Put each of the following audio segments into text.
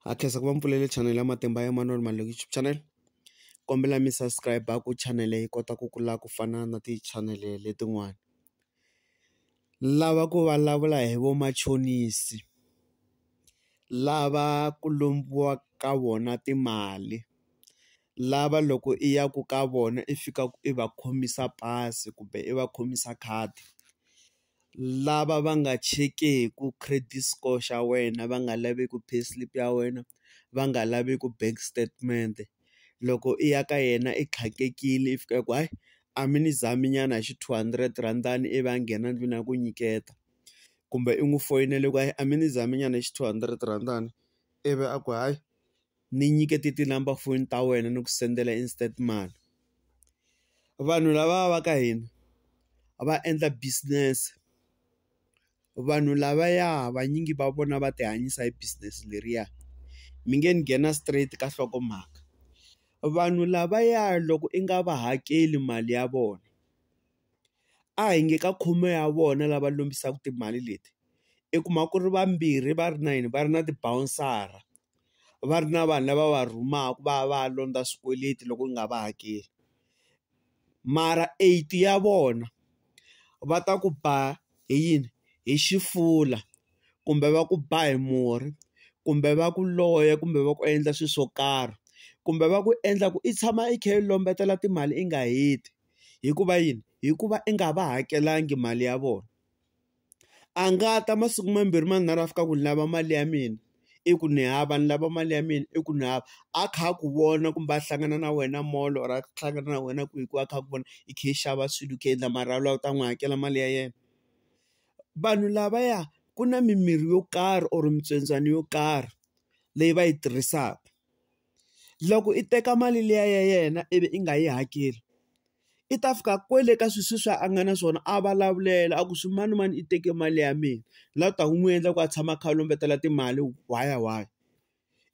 Ha khensa ku va mi pfulele chanel ya Matimba ya Manana Malunga YouTube channel. Kombela mi subscribe-a ku chanel yi kota ku kula ku fana na ti-channel letin'wana. Ni lava ku vulavula hi vamachonisi, lava ku lombiwa ka vona timali, lava loko i ya ku ka vona i fikaka i va khomisa pasi kumbe i va khomisa khadi. lava va nga chekeku credit score xa wena va nga laveku pay slip ya wena va nga laveku bank statement loko i ya ka yena i tlhandlekile i fika i ku hayi a mi ni zami nyana hi xi two hundred rhandi ivi a nghena ndlwini a ku nyiketa kumbe i n'wi foyinela ku hayi a mi ni zami nyana hi xi two hundred rhandi ivi a ku hayi. ni nyikete ti-number foni ta wena ni ku sendela instant mali vanhu lava va ka hina va endla business vanhu lavaya vanyingi va vona va ti hanyisa hi business leriya mi nge ni nghena straight ka nhlokomhaka vanhu lavaya loko i nga va hakeli mali ya vona a hi nge ka khume ya vona lava lombisaka timali leti i kuma ku ri vambirhi va ri na yini va ri na ti-bouncer-a. va ri na vanhu lava va rhumaka va ya va ya londza swikweleti loko u nga va hakeli mara eight ya vona va ta ku ba hi yini hi xifula kumbe va ku ba hi murhi kumbe va ku loya kumbe va ku endla swilo swo karhi kumbe va ku endla ku i tshama i kha i lombetela timali i nga heti hikuva yini hikuva i nga va hakelanga mali ya vona. a nga ta masiku mambirhi manharhu a fika ku ni lava mali ya mina i ku ni hava ni lava mali ya mina i ku ni hava a kha a ku vona kumbe a hlangana na wena molo or a hlangana na wena kwihi kwihi a kha a ku vona i khe i xava swilo i kha i endla mara u lava ku ta n'wi hakela mali ya yena vanhu lavaya ku na mimirhi yo karhi or mitswendzwana yo karhi leyi va yi tirhisaka. Loko i teka mali liya ya yena ivi i nga yi hakeli, i ta fika kwale ka sweswiya a nga na swona a vulavulela a ku swi manimani i teke mali ya mina. Laha u taka u n'wi endla ku a tshama a kha a lombetela timali why why?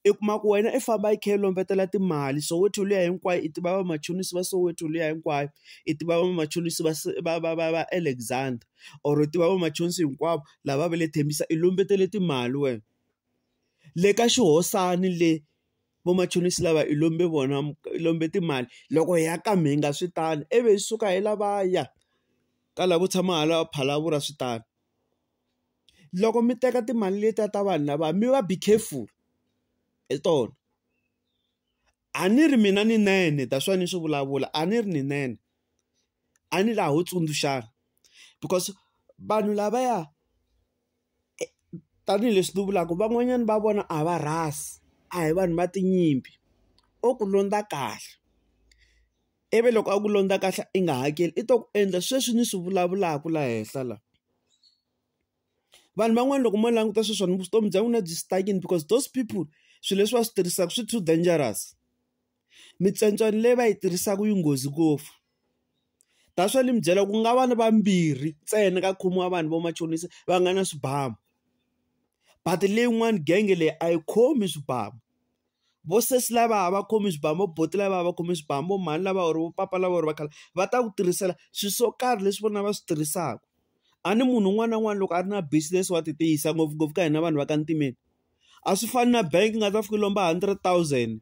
I kuma ku wena i famba i kha i lombetela timali Soweto liya hinkwayo i tiva vamachonisi va Soweto liya hinkwayo, i tiva vamachonisi va va va va va Alexandra or i tiva vamachonisi hinkwavo lava va le Tembisa i lombetele timali wena. le ka xihosani le vamachonisi lava hi lombe vona hi lombe timali loko hi ya ka mhinga swi tano ivi hi suka hi lavaya ka la ku tshama hala Phalaborwa swi tano loko mi teka timali letiya ta vanhu lava mi va be careful hi tona A ni ri mina ni nene that's why ni swi vulavula a ni ri ni nene a ni laha ho tsundzuxana because vanhu lavaya tanihileswi ni vulaka van'wanyana va vona a va rhasi a hi vanhu va tinyimpi o ku londza kahle ivi loko a ku londza kahle i nga hakeli i to ku endla sweswi ni swi vulavulaka la henhla la. vanhu van'wana loko mo languta sweswona vutomi bya n'wina byi stakini because those people swilo leswi va swi tirhisaka swi too dangerous mitsontswani leyi va yi tirhisaka yi nghozi ngopfu that's why ni mi byela ku nga va ni vambirhi ntsena ka khume wa vanhu vamachonisa va nga na swibamu but leyin'wani genge leyi a yi khomi swibamu. vo sesi lava a va khomi swibamu vo buti lava a va khomi swibamu vo mhani lava or vo papa lava or va khale va ta ku tirhisela swi swo karhi leswi vona va swi tirhisaka a ni munhu un'wana na un'wana loko a ri na business wa ti tiyisa ngopfungopfu ka hina vanhu va ka ntimeni a swi fani na bank nga ta fika lomba hundred thousand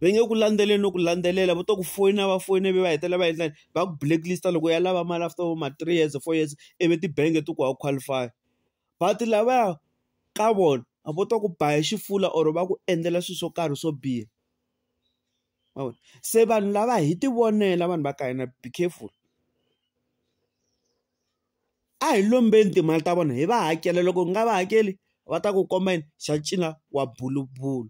va nge ku landzeleli no ku landzelela va to ku foyina va foyina ivi va hetelela va endla va ku blacklist loko ya lava mali after vo ma three years four years ivi tibangi ti ku wa qualify. but lavaya ka vona a vo to ku ba hi xifula or va ku endlela swilo swo karhi swo biha ma vona se vanhu lava hi ti vonela vanhu va ka hina be careful a hi lombeni timali ta vona hi va hakela loko hi nga va hakeli va ta ku komba yini xa cina wa bulubulu.